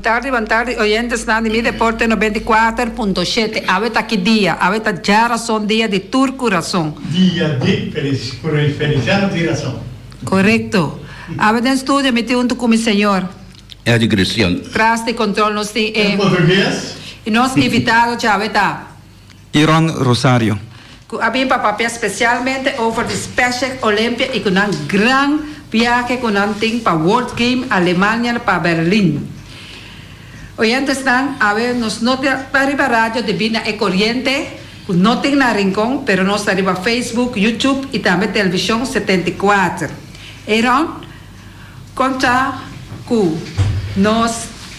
Bon tardi bon tardi oyentesnan di mi deporte nobenta i kuater punto shete awe ta ki dia awe ta dja rason dia di tur ku rason. Dia di feliciado di rason. Korekto awe den studio mi tin huntu ku mi señor. Edi Christian. Tras di kontrol nos tin e. El portugues. I nos invitado djawe ta. y Ron Rosario. Cu a bin pa papia specialmente over di Spacek Olympia y cu nan gran viahe cu nan tin pa World Game Alemania na pa Berlin. Oyentesnan, awe nos no ta riba radio debi na e coriente cu no tin na rincon, pero nos ta riba Facebook, YouTube y tambe television setenta y kuater. Ey Ron? Con ta cu nos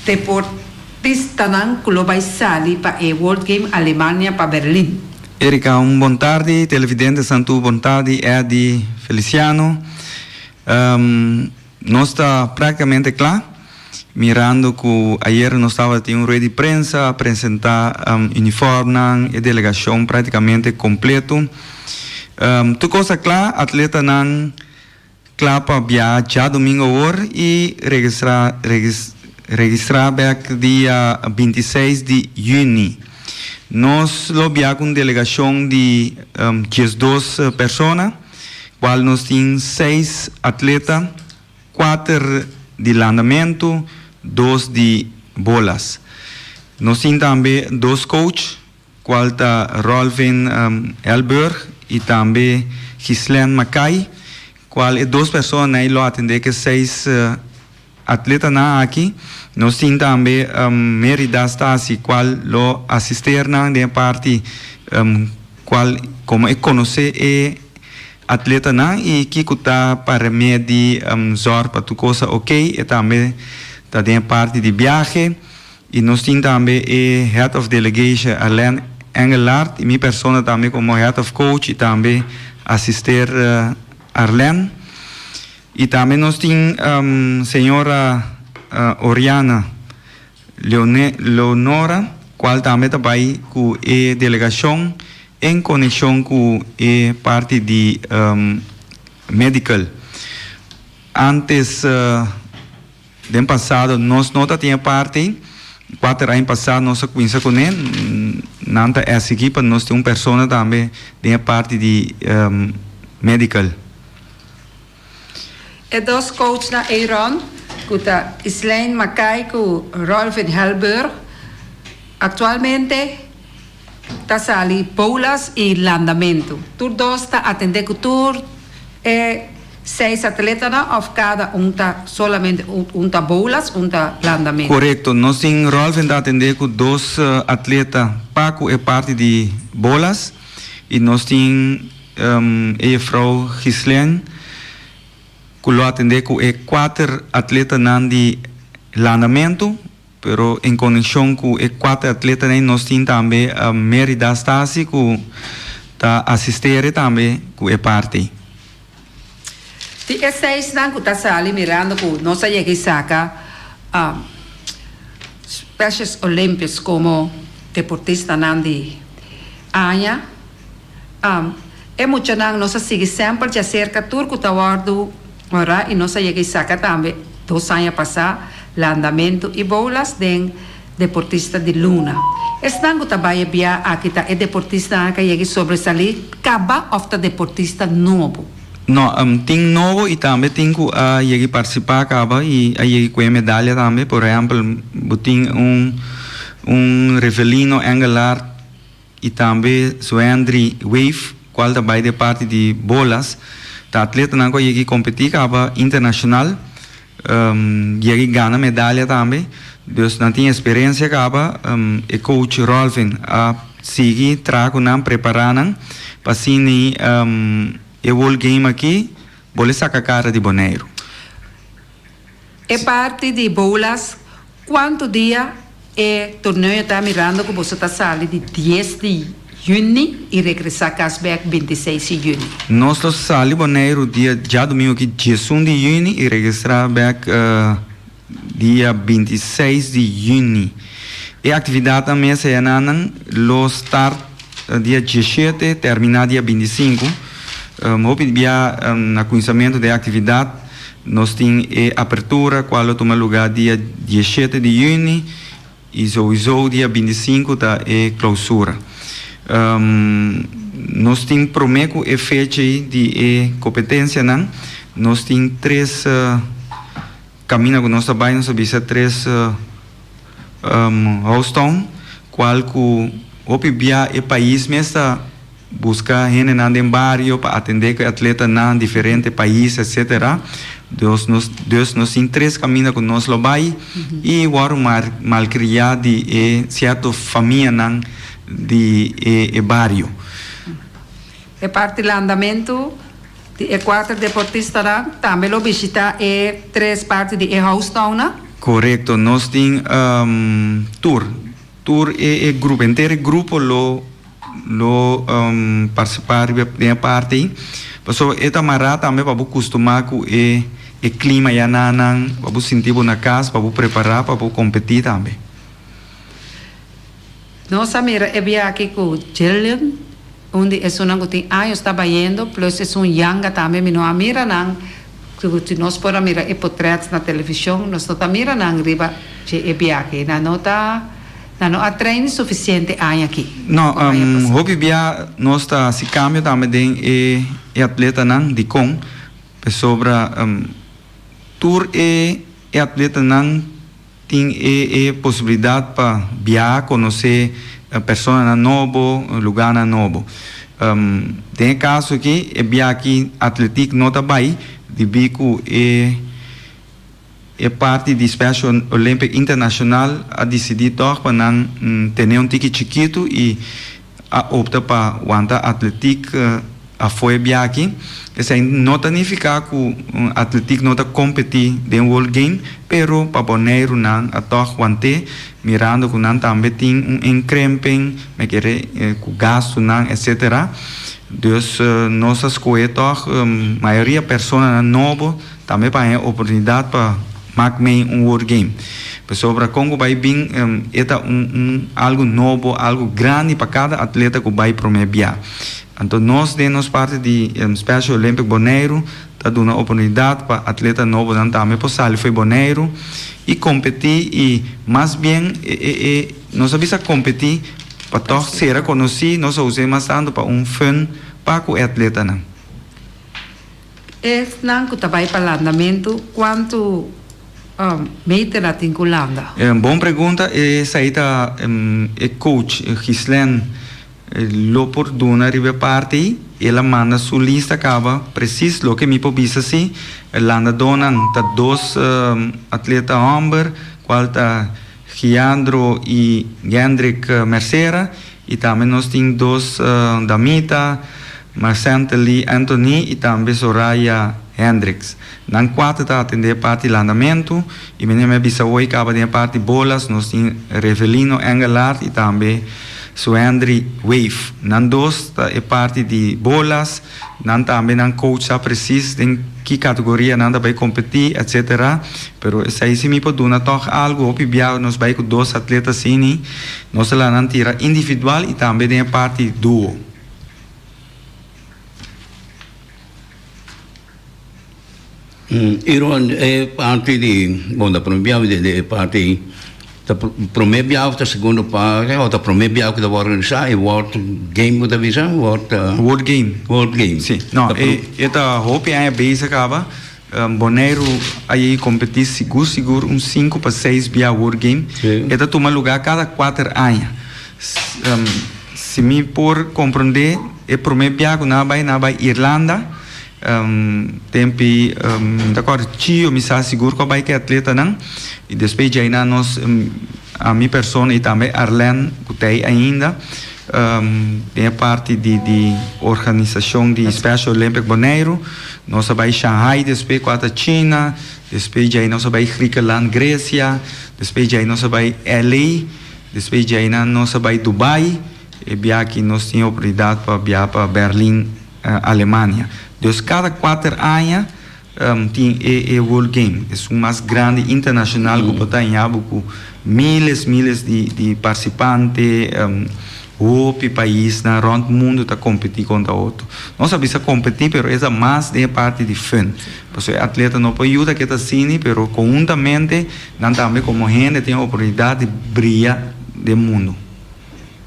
deportistanan cu lo bay sali pa e World Game Alemania pa Berlin? Erika, un bon tardi, televidentes nan tur bon tardi, Eddy, Feliciano, nos ta practicamente cla, mirando cu ayer nos tabata tin un rueda di prensa a presenta uniformnan, e delegacion practicamente completo, tur cos ta cla, atletanan Kla pa biaha djadomingo awor i registra registra bek dia binti i seis di yüni. Nos lo biaha ku un delegashon di dies dos persona, kual nos tin seis atleta, kuater di landamentu, dos di bolas. Nos tin tambe dos coach. cual ta Rolvin Elburg y tambe Ghislaine Mackay, cual e dos personanan ei lo atende cu e seis atletanan aki. Nos tin tambe Merida Stasi, cual lo asister nan den e parti cual como e conoce e atletanan y kico ta pa remedi zorg pa tur cosa oké. E tambe ta den e parti di biahe. Y nos tin tambe e Head of Delegation Alain Engelart y mi persona tambe como Head of Coach y tambe asister Arlène. Y tambe nos tin Señora Oriana Leonora cual tambe ta bay cu e delegacion en coneccion cu e parti di Medical. Antes Den pasado nos no ta tin e parti, kuater aña pasá nos a kuminsa kuné, nan ta esigi pa nos tin un persona tambe den e parti di medical. E dos coachnan ei rònt, ku ta Islijn Mackay ku Rolvin Helburg, aktualmente Ta sali Poullas y Landamento. Tur dos ta atende cu tur e seis atletanan of cada un ta solamente un ta Boulas un ta Landamento? Corecto, nos tin Rolfen ta atende cu dos atleta pa cu e parti di Boulas y nos tin e juffrouw Ghislain cu lo atende cu e cuater atletanan di Landamento. Pero en konekshon ku e kuater atletanan nos tin tambe a Mérida Stasi ku ta asistere tambe ku e parti. Di e seisnan ku ta sali mirando ku nos a yega i saka Specials Olympics komo deportistanan di aña, e muchanan nos a sigui semper djaserka tur ku ta wòrdu Ora y nos a yega y saca tambe dos aña pasa landamento y boulas den deportista di luna. Esnan cu ta baya bia aki ta e deportistanan ca yega y sobresali caba of ta deportista nobo? No, tin nobo y tambe tin cu a yega y participa caba y a yega y coge medalia tambe. Por ehempel bo tin un Rivelino Engelhard. y tambe Zuendri Wave cual ta bay den parti di bolas ta atletanan cu a yegi competi caba internacional yegi gana medalia tambe dus nan tin experiencia caba e coach Rolvin a sigui traha cu nan prepara nan pa asina e World Game aki bole saca cara di Boneiru. E parti di boulas cuanto dia e torneo yo ta mirando cu boso ta sali di dies di juni y regresa cas bek bintiseis di juni. Nos lo sali Boneiru dia djadomingo ki djesun di juni y regresa bek dia bintiseis di juni. E actividadnan mes eanan lo start dia djeshete termina dia bintisinku. Hopi di bia na cuinsamento di e actividad. Nos tin e apertura cual lo tuma lugar dia diesshete di juni y sowiso dia bintisinku ta e clausura. Nos tin prome cu e fecha ey di e competencianan. Nos tin tres camina cu nos ta bay, nos ta bisa tres house town cual cu hopi bia e pais mes ta. Buska hendenan den bario pa atendé ku e atletanan, diferente pais, etsetera. Dos nos, dus nos tin tres kaminda ku nos lo bai i wòrdu mar, malkriá di e sierto famianan di e e bario. E parti landamentu di e kuater deportistanan tambe lo bishitá e tres parti di e house townnan? Korekto, nos tin tur, tur e e grupo, henter e grupo lo. Lo participá riba den e parti ei. Paso e ta mará tambe pa bo custumá cu e e clima ya na nan, pa bo sinti bo na cas, pa bo prepará pa bo competí tambe. Nos a mira e biachi cu Jillian, un di esunnan cu tin años ta bayendo, plus esun yanga tambe. Mi no a mira nan, si nos por a mira e potret na television, nos no ta mira nan riba dje e biachi. Nan no ta. Nan no a train suficiente aña aki. No, hopi bia nos ta haci cambio tambe den e e atletanan, dicon? Pasobra tur e e atletanan tin e e posibilidad pa biaha conoce personanan nobo, lugarnan nobo. Den e caso aki e biaha aki atletic no ta bay, dibi cu e. E parti di Special Olympic International a disidí tòg pa nan tene un tiki chikitu i a opta pa wanta atletiek afue biachi. Esei no ta nifiká ku atletiek no ta kompetí den World Game, pero pa boneirunan a tòg want'é mirando ku nan tambe tin un enkrimpen me kere ku gastunan etsetera. Dus nos a skohe tòg mayoria personanan nobo. Tambe paña e oportunidat pa mak mei un word game. Pasobra kon ku bai bin e ta un un algu nobo, algu grandi pa kada atleta ku bai promé bia. Anto nos den nos parti di Special Olympic Boneiru ta duna oportunidat pa atleta nobonan tambe por sali fo'i Boneiru i kompetí i mas bien e nos a bisa kompetí pa tòg sera konosí, nos a us'é mas tantu pa un fun pa ku e atletanan. Esnan cu ta bay pa landamentu cuantu meter a tin cu landa? Bon pregunta, esai ta e coach Ghislain lo por duna riba e parti ei. El a manda su lista caba precies loke mi por bisa si e landadonan ta dos atleta homber cual ta. Giandro y Gendrick Mercera y tambe nos tin dos damita Marcente Lee Anthony y tambe Soraya Hendricks. Nan cuater ta atende e parti landamentu y menen mi a bisa hoy caba den e parti bolas nos tin Revelino Engelard y tambe Suendry Weef. Nan dos ta e parti di bolas. Nan tambe nan coach sa precies den ki categoria nan ta bay competi etc. Pero esai si mi por duna tog algo, hopi biaha nos bay cu dos atleta asini, nos ta laha nan tira individual y tambe den e parti duo. I rond e parti di bon ta prome biaha di e parti ei ta prome biaha of ta segundo parti o ta prome biaha ku ta wòrdu organisa e wòrd game ku ta bisa wòrd. Word game. Word game. Si. No, e e ta hopi aña bezig kaba. Boneiru a yei kompetí sigur sigur un sinku pa seis biaha word game. E ta tuma lugá kada kuater aña. Si mi por komprondé e prome biaha ku nan a bai nan a bai Irlanda Tempi mi ta kòrda chio mi sa sigur ku a bai ku e atletanan i despues di ainan nos mi persona i tambe Arlène ku ta ei ainda den e parti di organisashon di Special Olympic Boneiru nos a bai Shanghai despues ku a ta China despues di ai nos a bai Griekenland Gresia despues di ai nos a bai LA despues di ainan nos a bai Dubai e biaha aki nos tin oportunidat pa biaha pa Berlin. Alemania. Dus kada kuater aña tin e e World Game, esun mas grandi internashonal ku por ta hañabo ku miles miles di di parsipante, hopi paisnan rònt mundu ta kompetí kontra otro. Nos a bisa kompetí pero es ta mas den e parti di fun, paso e atleta no por yuda keda asini pero kohuntamente nan tambe komo hende tin e oportunidat di bria den mundu.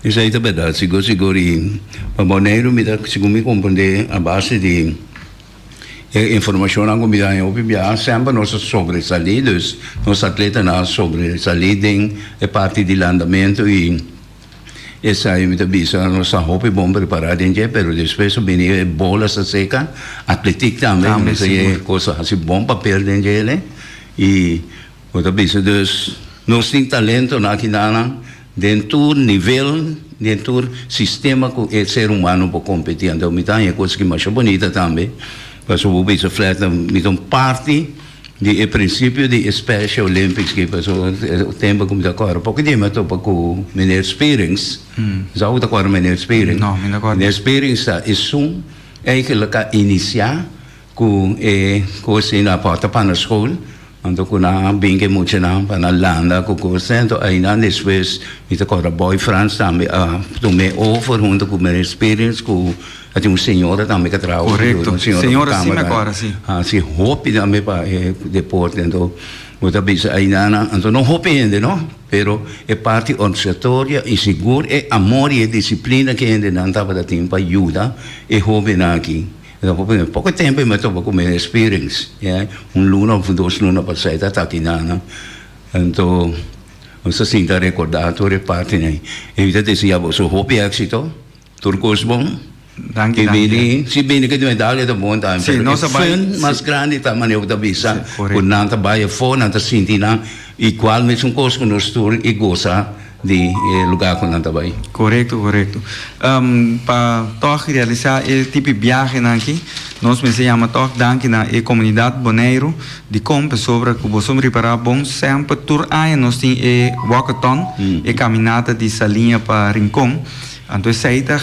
Esei ta berdad sigur sigur y pa Boneiru mi ta segun mi comprende a base di e informacionnan cu mi ta haña hopi biaha semper nos a sobresali dus nos atletanan a sobresali den e parti di landamento y esai mi ta bisa nos ta hopi bon prepara den dje pero despues a bini e bola sta seca atletic tambe mi bisa e cosa haci bon papel den dje y bo ta bisa dus nos tin talento na aki nan Den tur nivel, den tur sistema ku e ser humano por kompetí. Anto mi ta haña e kos ki masha bonita tambe, pasobra bo bisa flat no, mi ta un parti di e prinsipio di e Special Olympics aki, pasobra e tempo ku mi ta kore poco di mi a topa ku Meneer Spearings, mi sa ku bo ta kore Meneer Spearings? No, mi no ta kore. Meneer Spearings ta esun eikel a ka inisiá. Ku e kos ei na pòrta pa na skol, anto ku nan a bin ku e muchanan pa na landa ku kos ei, anto ainan despues mi ta kòrda Boy Frans tambe a tum'é over huntu ku Mary Spirits ku a tin un señora tambe ku a traha over dor, un señora ku kamba hasi hopi tambe pa e deporte. Anto bo ta bisa ainan, anto no hopi hende no, pero e parti òrsatoria i sigur e amor i e disiplina ku e hendenan tabata tin pa yuda e hóbennan aki. Lo cu primer poco tempo e matoba cu mey experience, yeah, un luna of dos luna pasai ta taki nana, anto nos ta sinta recorda tur e parten ey. E mi ta desea boso hopi exito, tur cos bon. Danki, danki. Bini, si bini cu di medalia ta bon tambe, pero e fun mas grandi ta manera cu ta bisa cu nan ta bay afo, nan ta sinti nan igual mesun cos cu nos tur y goza. di e luga ku nan ta bai. Korekto korekto pa tòg realisá e tipi biahenan aki nos mester yama tòg danki na e komunidat Boneiru dikon pasobra ku boso ripará bon semper tur aña nos tin e wòkaton e kaminata di Saliña pa Rinkon anto esei ta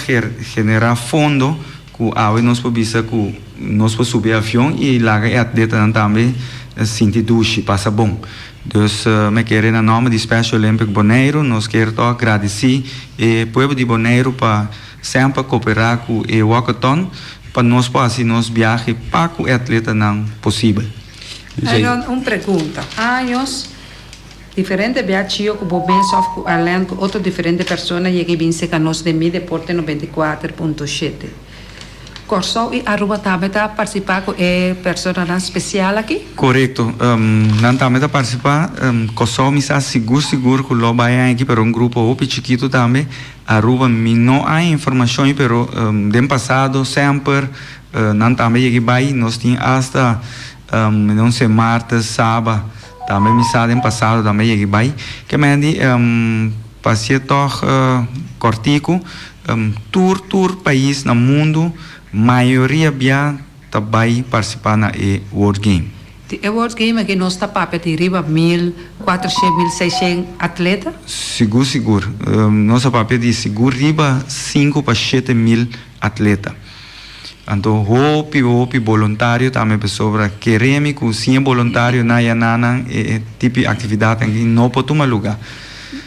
generá fondo Ku awe nos por bisa ku nos por subi e avion i laga e atletanan tambe sinti dushi, pasa bon. Dus mi a kere na nòmber di Special Olympic Boneiru nos kere tok gradisí e pueblo di Boneiru pa semper koperá ku e walkathon pa nos por hasi nos biahe pa ku e atletanan posibel. Aaron, un pregunta. Años Diferente bia chio ku bo bens òf ku Arlène ku otro diferente persona yega i bin seka nos den mi Deporte noventa i kuater punto shete. Kòrsou i Aruba tambe ta partisipá ku e personanan spesial aki? Korekto. Nan tambe ta partisipá. Kòrsou mi sa sigur sigur ku lo bai aña aki pero un grupo hopi chikitu tambe. Aruba mi no a e informashon ei pero den pasado sèmper nan tambe yega i bai. Nos tin asta un semàrtes, saba. Tambe mi sa den pasado tambe yegi bai ke mendi pasie tog kortiku tur tur pais na mundu mayoria bia ta bai partisipa na e word game. Di e word game aki nos ta papia di riba mil kuatrashent mil seishent atleta? Sigur sigur nos a papia di sigur riba sinku pa shete mil Atleta. Anto hopi hopi boluntario tambe pasobra keré mi ku sin e boluntario na ya na nan e tipi aktividat aki no por tuma luga.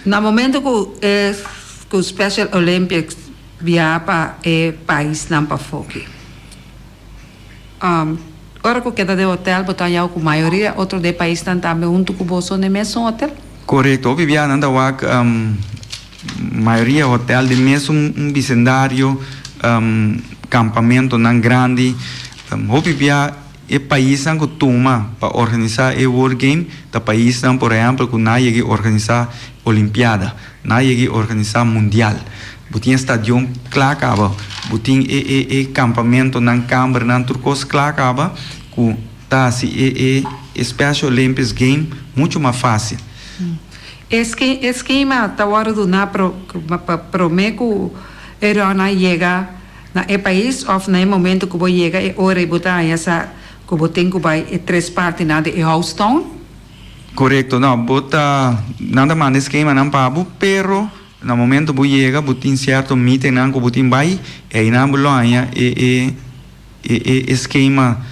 Na momento ku e ku Special Olympics bia pa e paisnan pafó ki. Ora ku keda den hotel bo ta hañau ku mayoria otro de e paisnan tambe huntu ku bo son den mesun hotel? Korekto, Viviana. Nan ta wak mayoria hotel den mesun un bisendario, kampamentonan grandi. Hopi bia e paisnan ku tuma pa organisá e World Game ta paisnan, por ehèmpel, ku nan a yega a organisá Olimpiada. Na yegi organisa mundial. Bo tin e stadion kla kaba. Bo tin e e e kampamentonan, kambernan, tur kos kla kaba ku ta hasi e e e Special Olympics Game muchu mas fásil. E e skema ta wòrdu duná pa promé ku e rònan yega na e pais òf na e momentu ku bo yega e ora i bo ta haña sa ku bo tin ku bai e tres partinan di e host town? Korekto, no, bo ta, nan ta manda e skemanan pa bo, pero na momento bo yega bo tin sierto meetingnan ku bo tin bai, e ainan bo lo haña e e e e skema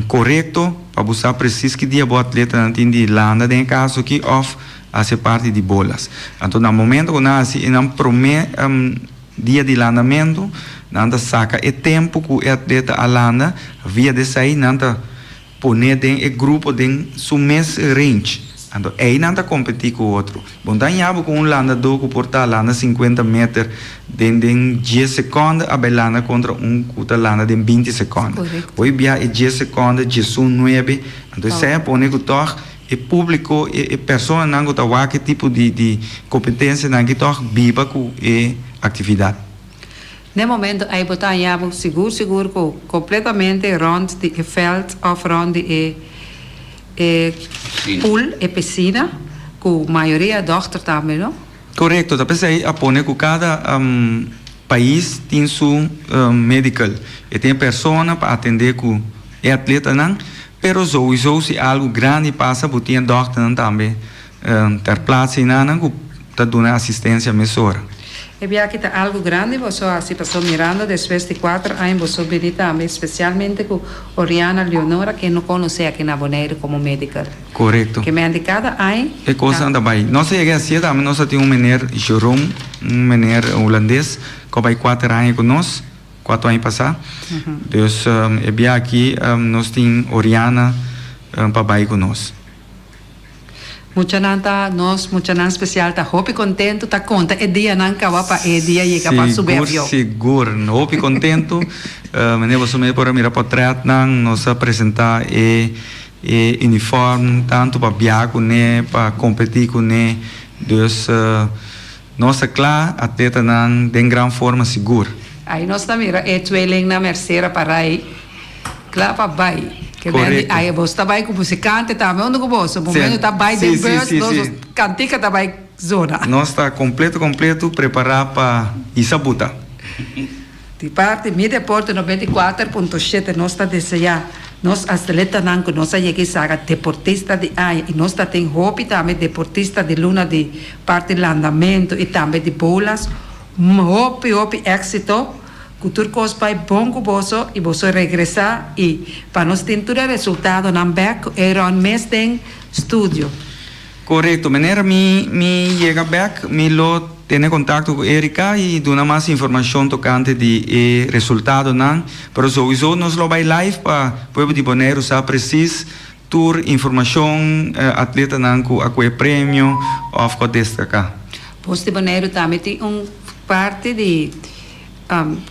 korekto pa bo sa presis ki dia bo atletanan tin di landa den e kas aki òf hasi parti di bolas. Anto na momento ku nan hasi e nan promé dia di landamentu nan ta saka e tempu ku e atleta a landa, via desei nan ta. Pone den e grupo den su mes range, anto einan ta kompetí ku otro. Bo no ta hañá bo ku un landadó ku por ta landa sinkuenta meter den den dies sekònde a bai landa kontra un ku ta landa den binti sekònde. Hoy bia e dies sekònde djesun nuebe, anto esei a pone ku tòg e públiko, e personanan ku ta wak e tipo di di kompetensianan aki tòg biba ku e aktividat. N'e momento ei bo ta haña bo sigur sigur cu completuamente rond di e veld of rond di e e pool, e piscina, cu mayoria dochter tambe, no? Corecto, ta p'esey a pone cu cada pais tin su medical, e tin e persona pa atende cu e atletanan, pero souiso si algo grandi pasa bo tin e dochternan tambe Ter plats hinana cu ta duna asistencia mesora. E biachi ta algo grandi boso a haci pa Sol Miranda despues di cuater aña boso bini tambe, specialmente cu Oriana Leonora que no conoce aki na Boneiru como medical. Corecto. Ki menti cada aña ta. E cosnan ta bay. Nos a yega haci e tambe, nos a tin un meneer Jeroen, un meneer Hulandes cu a bay cuater aña cu nos, cuato aña pasa. Dus e biachi nos tin Oriana pa bay cu nos. Muchanan ta nos muchanan special ta hopi contento ta conta e dianan caba pa e dia yega pa subi avion. Sigur sigur hopi contento mende boso mes por a mira potretnan nos a presenta e e uniform tanto pa bia cune pa competi cune dus. Nos ta kla atletanan den gran forma sigur. Ai nos ta mira e tweelingnan Mercera Parai kla pa bai. Ke men di ai boso ta bai ku musikante tambe unda ku boso. Momen yo ta bai den bus nos dos kantika ta bai zona. Nos ta kompleto kompleto prepara pa hisa buta. Di parti mi Deporte noventa i kuater punto shete nos ta deseá nos atletanan ku nos a yega i saga Deportista di Aña i nos ta tin hopi tambe Deportista di Luna di parti landamentu i tambe di Boulas. Un hopi hopi éksito, ku tur kos bai bon ku boso i boso regresá i pa nos tin tur e resultadonan bèk ku Aaron mes den studio. Korekto miner, mi mi yega bèk mi lo tene kontakto ku Erika i duna mas informashon tokante di e resultadonan, pero souiso nos lo bai live pa pueblo di Boneiru sa presis tur informashon, atletanan ku a koe premio òf ku a destaká. Bus di Boneiru tambe tin un parti di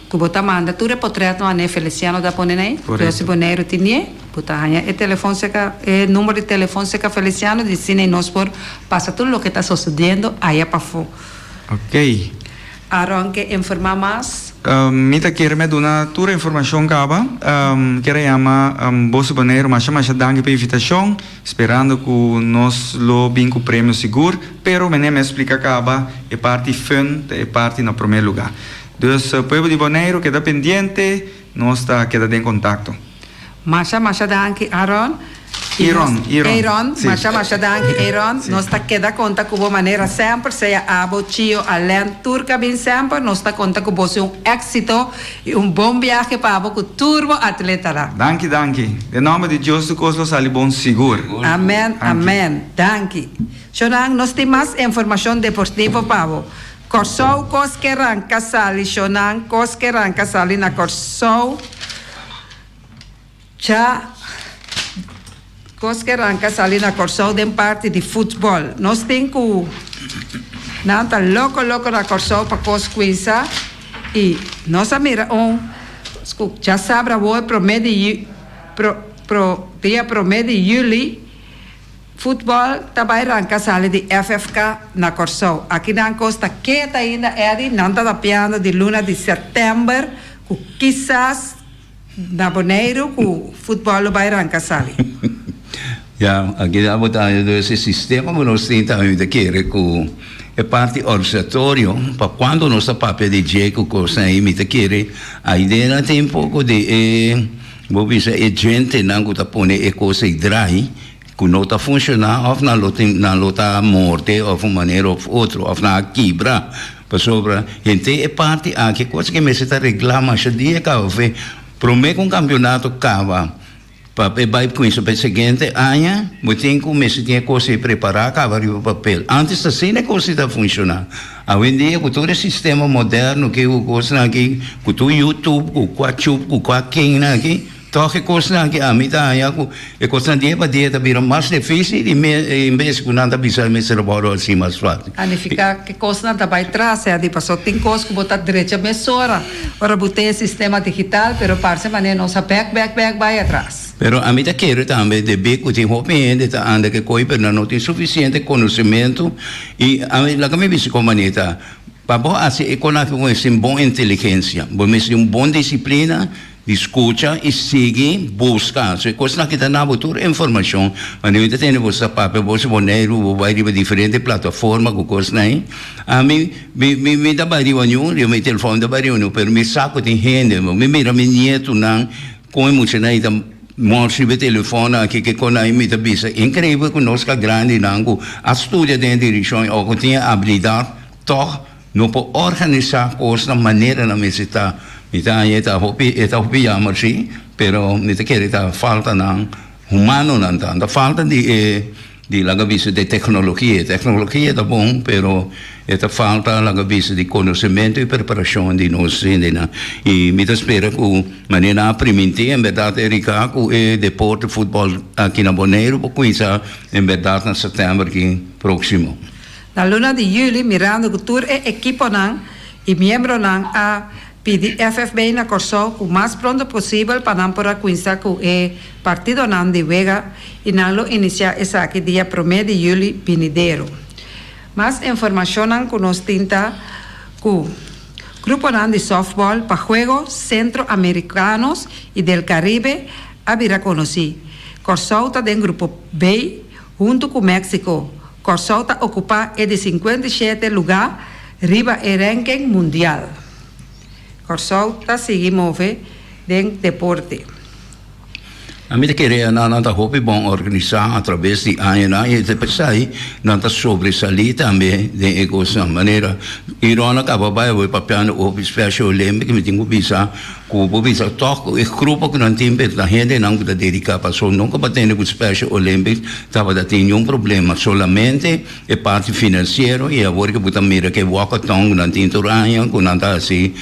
Cu bo ta manda tur e potret no ane Feliciano ta pone nai. Yo si Boneiru tin die bo ta haña e telefon cerca e number di telefon cerca Feliciano di si nai nos por pasa tur loke ta sosediendo aya pafo. Okay. Aaron ke informa mas. Mi ta kere me duna tur e informacion caba. Kera yama bo si Boneiru masha masha danki pa invitacion. Sperando cu nos lo bin cu premio sigur, pero menen mes splica caba, e parti fun ta e parti na promer lugar. Dus pueblo di Boneiro keda pendiente, nos ta keda den contacto. Masha masha danki Aaron. Y nos. Aaron, Aaron. Aaron, masha masha danki Aaron. Nos ta keda conta cu bo manera semper, sea abo, chio, Alain, tur cabin semper nos ta conta cu bo si un exito. Y un bon biahe pa bo cu tur bo atletanan. Danki danki. Den nomber di Dios tur cos lo sali bon sigur. Amen amen danki shonan nos tin mas informacion deportivo pa bo Corsou cos ke ranca sali shonan cos ke ranca sali na Corsou. Cha cos ke ranka sali na Corsou den parti di futbol. Nos tin cu nan ta loco loco na Corsou pa cos Quinsa y nos a mira un scu cha sabra awoe prome di pro dia prome di Juli futbol ta bay ranka sali di FFK na Corsou. Aki nan cos ta keta ainda Eddy, nan ta tapiando di luna di September cu kisas. Na Boneiru ku futbòl lo bai ranka sali. Ya, aki ta abo ta aña dos e sistema ku nos tin ta mi ta kere ku e parti orsatorio pa kuantu nos ta papia di dje ku kosnan ei mi ta kere aidena tin un poko di e bo bisa e djentenan ku ta pone e kos ei drai. ku no ta funshoná òf nan lo tin nan lo ta morte òf un manera òf otro òf nan a kibra pasobra henter e parti aki kos ke mester ta reglá masha di e kaba fe promé ku un kampionato kaba pa e bai kuinsa pa e siguiente aña bo tin ku mester tin e kos ei prepará kaba riba papel ántes ta asina e kos ei ta funshoná awendia ku tur e sistema moderno ke ku kosnan aki ku tur youtube ku kua chup ku kua kennan aki. Tòg e kosnan ke ami ta haña ku e kosnan dia pa dia ta bira mas difísil i me en bes ku nan ta bisa e mester a wòrdu hasi mas fásil. Planifiká ke kosnan ta bai tras hedi pasó tin kos ku bo ta drecha mesora ora bo tin e sistema digital pero parse manera nos a bèk bèk bèk bai atras. Pero ami ta kere tambe debí ku tin hopi hende ta anda ke koi pero nan no tin sufisiente konosementu i ami laga mi bisa kon manera ta pa bo hasi e kosnan aki ku e sin bon inteligensia bo mester tin un bon disiplina. Di scucha y sigui busca. So e cosnan aki ta na bo tur informacion. Ma mi ta tene boso ta papia boso Boneiru, bo bay riba diferente plataforma cu cosnan ayi. Ami mi mi ta bay riba niun riba mi telefon mi ta bay riba niun pero mi sa cu tin hende bo. Mi mira mi nietonan con e muchanan ayi ta mos riba e telefonnan aki ki cosnan ayi mi ta bisa increible cu nos ca grandinan cu a studia den e direccion y awo cu tin e habilidad toch No por organisá kosnan manera nan mester ta. Mi ta haña e ta hopi e ta hopi yamber si, pero mi ta kere ta falta nan humanonan ta. Ta falta di e di laga bisa di teknologia. E teknologia ta bon pero e ta falta laga bisa di konosementu i preparashon di nos hendenan. I mi ta spera ku manera nan a primintí en bèrdat e riká ku e deporte futbòl aki na Boneiru por kuminsá en bèrdat na sètèmber aki próksimo. Na luna di juli, mirando cu tur e ekiponan y miembronan a pidi FFB na Corsou cu mas pronto posibel pa nan por a cuinsa cu e partidonan di wega y nan lo inicia esaki dia prome di juli binidero. Mas informacionnan cu nos tin ta cu gruponan di softball pa Juego Centro Americanos y del Caribe a bira conoci. Corsou ta den grupo B. Huntu ku Méksiko, Kòrsou ta okupá e di sinkuenta i shete lugá riba e rènken mundial. Kòrsou ta sigui move den deporte. Mi ta kere nan nan ta hopi bon organisá atrabes di añanan i ta pensa ei nan ta sobresalí tambe den e kosnan. Manera Iron a kaba bai awor papiando hopi Special Olympic mi tin ku bisa Cu bo bisa tok cu e grupo cu nan tin bit na hendenan cu ta dedica pa asun nunca bo a tene cu Special Olympics tabata tin niun problema, solamente e parti financiero y awor cu bo ta mira cu e walkathon cu nan tin tur aña cu nan ta haci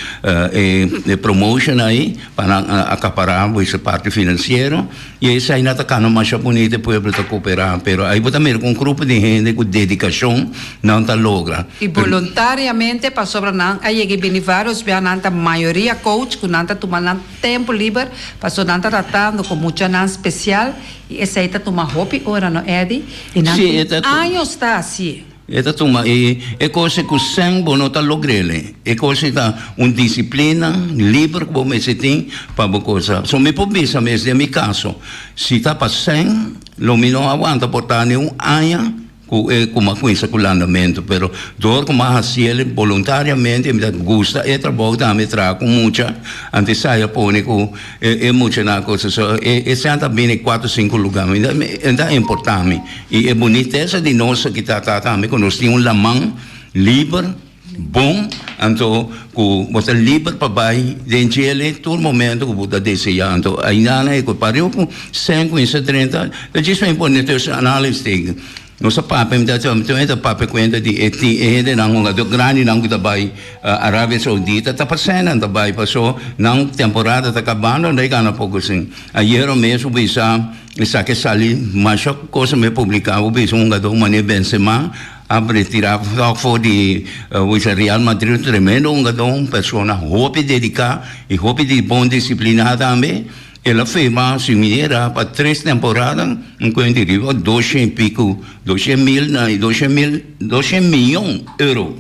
e promotion ayi pa nan acapara bo ese parti financiero. Y esai no ta cana masha bunito, e pueblo ta coopera, pero ai bo ta mira cu un grupo di hende cu dedicacion nan ta logra. Y boluntariamente pasobra nan a yega y bini varios bia, nan ta mayoria coach cu nan ta tuma nan tempo liber, paso nan ta tratando cu muchanan special y esai ta tuma hopi ora no Eddy y nan tin años ta haci. E ta tuma e e kosnan ku sèn bo no ta logr'ele. E kosnan ta un disiplina liber ku bo mester tin pa bo kosa. So mi por bisa mes den mi kaso, si ta pa sèn, lo mi no a wanta por ta niun aña ku e ku mi a kuinsa ku landamentu. Pero dor ku mi a hasiel boluntariamente, mi ta gusta e trabou, dame traha ku mucha, antes saya pone ku. E muchanan cu so e sent a bini cuatro cinco lugar mi e ta importa mi y e bunitesa di nos aki ta ta tambe cu nos tin un laman liber bon anto cu bo ta liber pa bay den chele tur momento cu bo ta desea anto aindana cu pario cu sent cu inse drenta ta djis me pone tussen anales tegen. Nos a papia mi ta keda mi tambe ta papia cuenta di e tin e hende nan hogador grandi nan cu ta bay Arabia Saudita ta pasen nan ta bay paso nan temporada ta cabando anto e gana poco sin ayero mes hopi bisa esaki a sali masha cosa me publica hopi bisa un hogador mane Benzema a retira fo di hopi bisa Real Madrid un tremendo hogador un persona hopi dedica y hopi di bon disciplina tambe. El a firma su minera pa tres temporada, un cuenti riba doshe y pico, doshe mil na y doshe mil, doshe miyon euro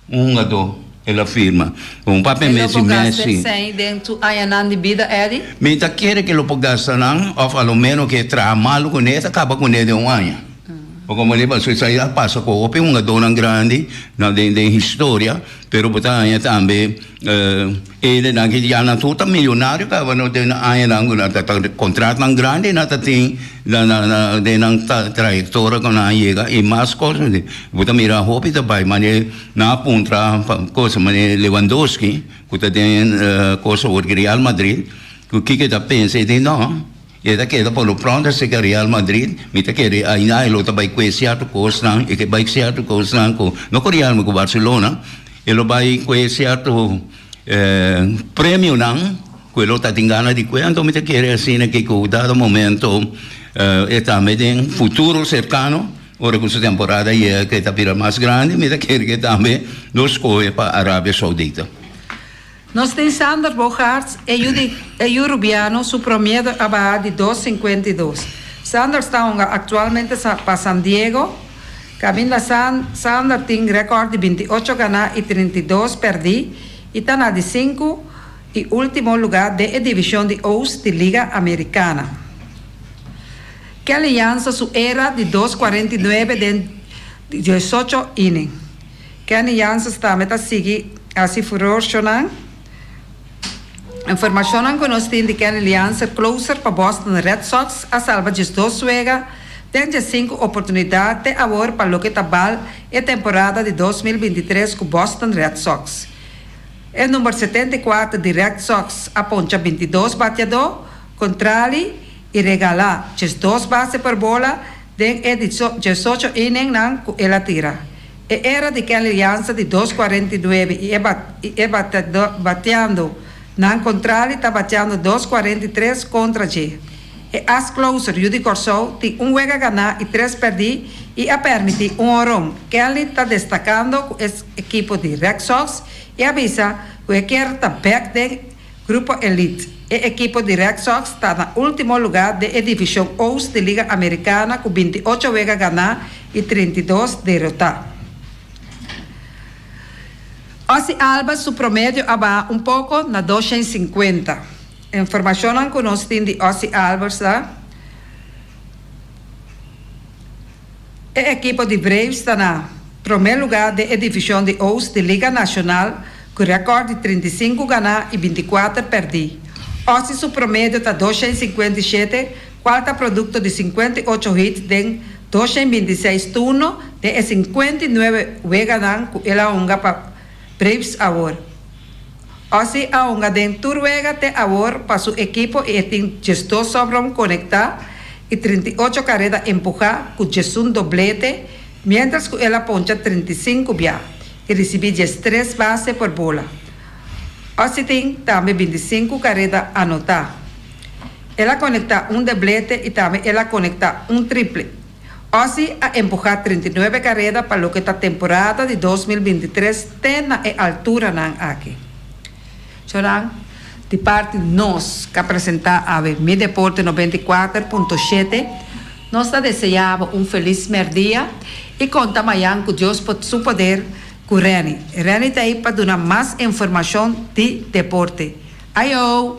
un hungador el a firma cu un papia Lo mezi por gasta mezi. esey den su añanan di bida, Eddie? Mi ta kere cu lo por gasta nan of a lo menos cu e traha malo cu ne e ta caba cu ne den un aña. Por como riba su esey a pasa cu hopi hungadornan grandi na den den historia, pero bo ta haña tambe, eh, E dennan ki dianan tur ta milionario kaba no den añanan ku nan ta ta kontratonan grandi nan ta tin na na na den nan ta trayektora ku nan a yega i mas kosnan bo ta mira hopi ta bai mane nan a puntra pa kos mane Lewandowski ku ta den kos awor di Real Madrid ku kiko ta pensa i di no E ta keda pa lo pront aserka Real Madrid, Mi ta kere ayina e lo ta bai kue cierto cosnan, e ke bai cierto cosnan cu, no cu Real mi cu Barcelona, e lo bai cue cierto premionan cu e lo ta tin gana di cue, anto mi ta kere asina ke cu dado momento e tambe den futuro cercano, ora cu su temporada yega cu e ta bira mas grandi, mi ta kere cu e tambe lo scohe pa Arabia Saudita. Nos tin Sander Boogaerts, eyu di eyu Rubiano su promiedo a baha di dos sinkuenta i dos. Sander sta honga aktualmente sa pa San Diego. Kaminda San Sander tin rèkòrt di binti ocho ganá i trinta i dos pèrdí i ta na di sinku i último lugá den e divishon di Oost di Liga Amerikana. Kelly Jansen su era di dos kuarenta i nuebe den diosocho inning. Kenny Janssens tambe ta sigui hasi furor shonan. Informashonnan ku nos tin di Kenny Lianser, closer pa Boston Red Sox, a salba diesdos wega den diessinku oportunidat te awor pa loke ta bal e temporada di dos mil bintitres ku Boston Red Sox. E number setenta i kuater di Red Sox a poncha bintidos batiadó kontrali i regala djes dos base per bola den e diesocho inningnan ku el a tira. E era di Kelly Lianza di dos kuarenta i nuebe i e bateando nan kontrali ta bateando dos kuarenta i tres kontra dje. E as closer Yudy Corsou tin un wega ganá i tres pèrdí i a pèrmití un honron. Kelly ta destakando ku e ekipo di Red Sox i a bisa ku e kier ta bèk den. Grupo Elite. E ekipo di Red Sox ta na ultimo luga den e divishon Oost di Liga Amerikana ku binti ocho wega ganá i trinta i dos derotá. Ozzie Alba su promedio a baha un poko na dos shen sinkuenta. E informashonnan ku nos tin di Ozzie Albers ta. E ekipo di Braves ta na promé lugá den e divishon di Oost di Liga Nashonal ku rèkòrt di trinta i sinku ganá i binti i kuater pèrdí. Osi su promedio ta dos shen sinkuenta i shete, kual ta produkto di sinkuenta i ocho hits den dos shen binti i seis turno den e sinkuenta i nuebe weganan ku el a hunga pa Braves awor. Osi a hunga den tur wega te awor pa su ekipo i e tin diesdos sòpron konektá i trinta i ocho kareda empuhá ku diesun doblete miéntras ku el a poncha trinta i sinku bia i risibí diestres base por bola. Osi tin tambe binti sinku kareda anotá. El a konektá un deblete i tambe el a konektá un triple. Ozzy a empuhá treinta i nuebe kareda pa loke ta temporada di dos mil binti tres te na e alturanan aki. Zoran, Di parti nos ka presentá awe Mi Deporte noventa i kuater punto shete. Nos ta deseá bo un felis mèrdia i konta mayan ku Dios por su poder ku Renny. Renny ta ei pa duna mas informashon di deporte. Ayo!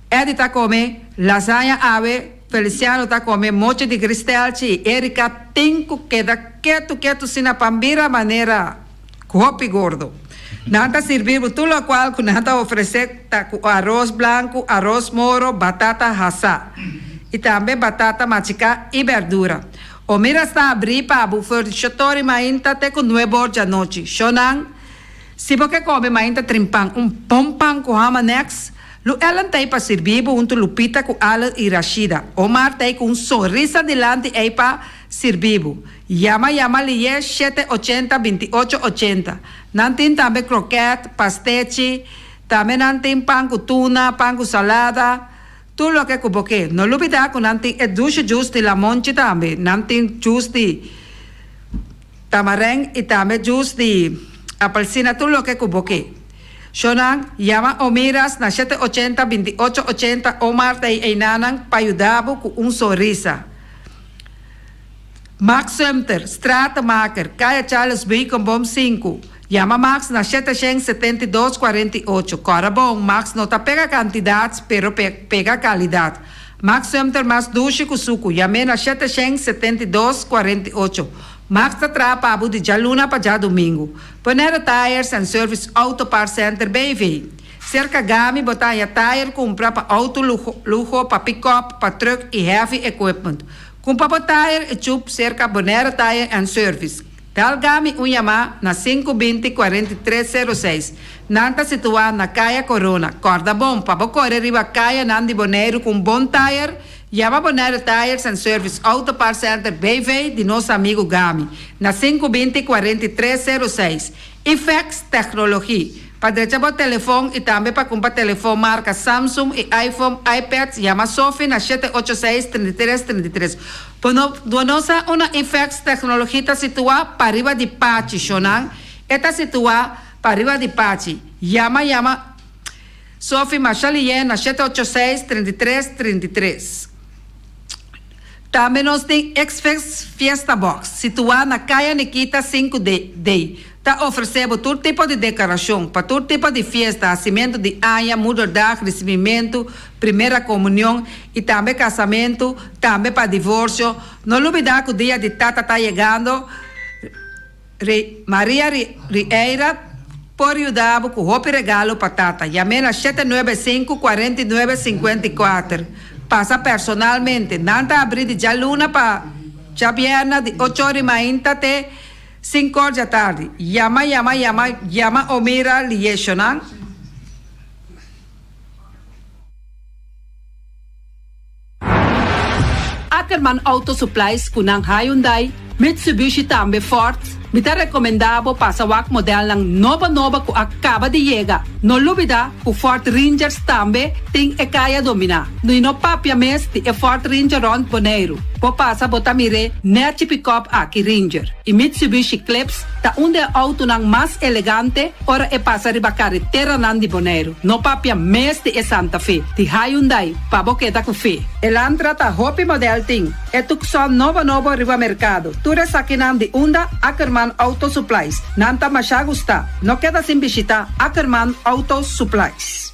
Eddy ta come lasaña awe, Feliciano ta come mochi di gristelchi y Erika tin cu keda ketu ketu sina pa mira manera cu hopi gordo. Nan ta sirbi bo tur locual cu nan ta ofrece ta cu aros blanco, aros moro, batata hasa y tambe batata machica y berdura. Omira sta abri pa bo for di shotori mainta te cu nue bor di anochi. Shonan. Si bo ke kome main ta trimpan un pon pan ku hama nèks, lu Ellen t'ei pa sirbi bo huntu Lupita ku Allen i Rashida. Omar t'ei ku un sonrisa dilanti ei pa sirbi bo. Yama yama liye shete ochenta binti ocho ochenta. Nan tin tambe krokèt, pastèchi, tambe nan tin pan ku tuna, pan ku salada. Tur loke ku bo ke. No lubidá ku nan tin e dushe jus di lamonchi tambe. Nan tin jus di tamareng i tambe jus di apelsina tur loke ku bo ke. Shownan, yama Omiras na shete ochenta binti ocho ochenta Omar ta ei einanan pa yuda bo ku un sonrisa. Max Sumter, stratenmaker, Kaya Charles Beekenboom sinku, Yama Max na shete shen setenta i dos cuarenta i ocho Cora bon, Max no ta pega cantidad, pero pega calidad. Max Sumter mas dushi cu sucu, Yame na shete shen setenta i dos cuarenta i ocho Max ta traha pa bo di djaluna pa djadomingo. Bonero Tires and Service Auto Parts Center BV. Cerca Gami bo ta haña tire cumpra pa auto lujo, pa pick-up, pa truck y heavy equipment. Con pa bo tire e chup cerca Bonaire Tire and Service, tel gami un yama na sinku binti cuarenta i tres seru seis. Nan ta situa na Caya Corona. Corda bon, pa bo core riba cayanan di Boneiru cu un bon tire, yama Bonaire Tires and Service Auto Parts Center BV di nos amigu gami na sinku binti cuarenta i tres seru seis. I fax tecnologi pa drecha bo telefon i tambe pa cumpra telefon marca Samsung i iPhone, iPads yama Sophie na shete ocho seis, trinta i tres, trinta i tres. Bo no bo no sa una i fax tecnologi ta situa pa riba di pachi shonan e ta situa pa riba di pachi yama yama Sophie Marchalien na shete ocho seis, trinta i tres, trinta i tres. Tambe nos tin X-Fix Fiesta Box situá na Kaya Nikita sinku de dei. Ta ofresé bo tur tipo di dekorashon pa tur tipo di fiesta, hasimentu di aña, Moederdag, risibimentu, Primera Komunion i tambe kasamentu, tambe pa divorsio. No lubidá ku Dia di Tata ta yegando. Ri Maria Rieyra por yuda bo cu hopi regalo pa tata. Yame na shete nuebe e sinku cuarenta i nuebe sincuenta i kuater. Pasa personalmente. Nan ta abri di djaluna pa djabierna di ocho ora di mainta te sinku or djatardi. Yama yama yama yama o mira lieshonan. Ackerman Auto Supplies cu nan Hyundai, Mitsubishi tambe Ford, mi ta recomenda bo pasa wak modelnan nobo nobo cu a caba di yega. No lubida cu Ford Rangers tambe tin e caya domina. No y no papia mes di e Ford Ranger rond Boneiru. Bo pasa bo ta mir'e nerci pick-up aki Ranger. Y Mitsubishi Clips ta un di e autonan mas elegante ora e pasa riba careteranan di Boneiru. No papia mes di e Santa Fe di Hyundai. pa bo keda ku fe. Elantra ta hopi modèl tin e Tucson nobo nobo riba merkado. Tur esakinan di unda Ackerman Auto Supplies. Nan ta masha gustá. No keda sin bishitá Ackerman Auto Supplies.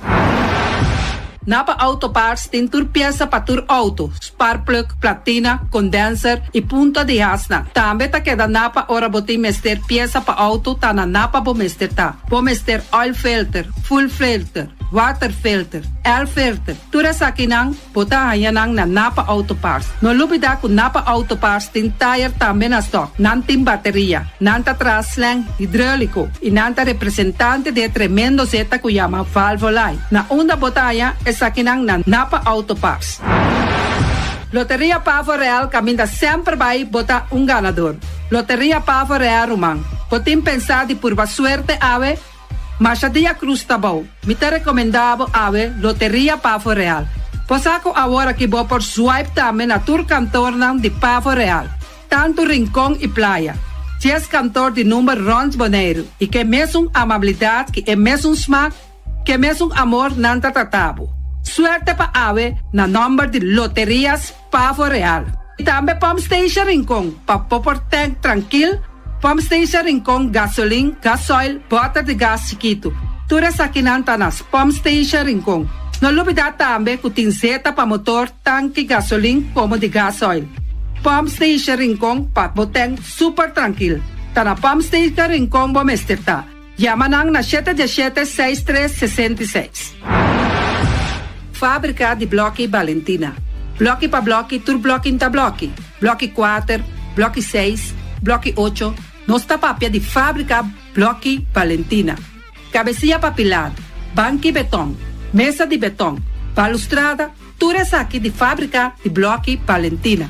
Na pa Auto Parts tin tur piesa pa tur outo, spark plug, platina, condenser i punta di hasnan. Tambe ta keda na pa ora bo tin mester piesa pa outo ta na na pa bo mester ta. Bo mester oil filter, full filter. Waterfilter, L-filter, tur esakinan bo ta haña nan na Napa Auto Parts. No lubida ku Napa Auto Parts tin tayer tambe na stòk, nan tin bateria, nan ta traha slèng hidròliko i nan ta representante di e tremendo zeta ku yama Valvoline. Na unda bo ta haña esakinan na Napa Auto Parts? Loteria Pavo Real Caminda semper bai bo ta un ganador! Loteria Pavo Real Ruman, bo tin pensá di purba suerte awe? Masha de la Cruz ta bou. Mi ta recomenda bo awe Loteria Pavo Real. Cosa cu awor aki bo por swipe tambe na tur kantornan di Pavo Real, tantu Rincon y Playa, dies kantor di number rond Boneiru y k'e mesun amabilidad y e mesun smaak, k'e mesun amor nan ta trata bo. Suerte pa awe na number di Loteria. Pavo Real, y tambe Pump Station Rincon, pa popor tank trankil, Pump Station Rincon Gasolin, Gasoil, Boter di Gas Chikitu. Tur esakinan ta nas Pump Station Rincon. No lubida tambe cu tin zeta pa motor tanki gasolin como di gasoil. Pump Station Rincon pa bo tank super trankil. Ta na Pump Station Rincon bo mester ta. Yama nan na shete diashete seis tres sesenta i seis. Fabrika di bloki Balentina Bloki pa bloki tur blokin ta bloki bloki kuater bloki seis bloki ocho nos ta papia di fabrika bloki Balentina kabesia pa pilar banki beton mesa di beton balustrada tur esaki di fabrika di bloki Balentina